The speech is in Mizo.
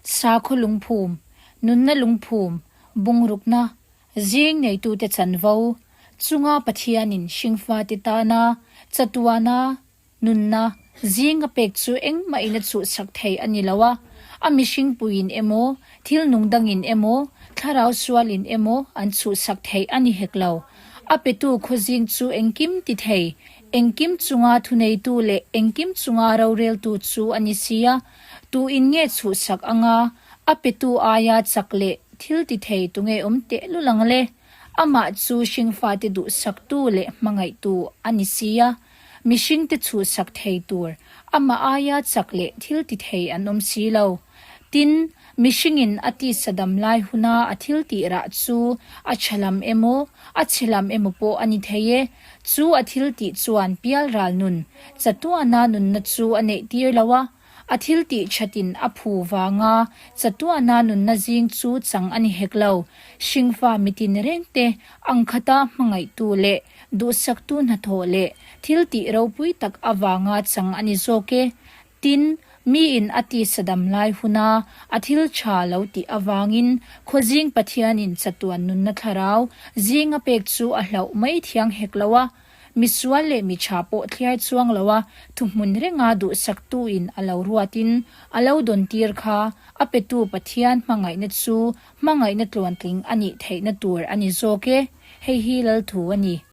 Sakhaw lungphum, nunna lungphum, bungrukna, zing neitute chanvo, chunga Pathianin hringfate tana, chatuana, nunna, zinga pek chu engmahin a chuhchhak thei a ni lo a, a mihringpuiin emaw, thil nungdangin emaw, thlarau sualin emaw an chuhchhak thei a ni hek lo. A petu khawzing chu engkim ti thei, engkim chunga thuneitu leh engkim chunga roreltu chu a ni si a, Tu in nge chhuhsak anga a petu aia chak leh thil ti thei tu nge awm tehlul ang le? Amah chu hringfate duhsaktu leh hmangaihtu a ni si a, mihringte chhuhsak thei tur amah aia chak leh thil ti thei an awm si lo. Tin, mihringin a tisadam lai huna a thil tih rah chu a tha lam emaw, a chhe lam emaw pawh a ni thei e, Chu a thil tih chuan pial ral nun chatuana nunna chu a neih tir lo a, a thil tih thatin a phu vanga chatuana nunna zing chu chang a ni hek lo. Hringfa mitin rengte, angkhata hmangaihtu leh duhsaktu hnathawh leh thil tih ropui tak avanga chang a ni zawk e. Tin, miin a tisadam lai huna a thil tha lo tih avangin khuazing Pathianin chatuan nunna thlarau zing a pek chu a hlauh mai thiang hek lo a, misual leh mi tha pawh thliar chuang loa thuhmun renga duhsaktuin a lo ruatin a lo dawntir kha a petu Pathian hmangaihna chu hmangaihna tluantling a nih theihna tur a ni zawk e, hei hi lalthu a ni.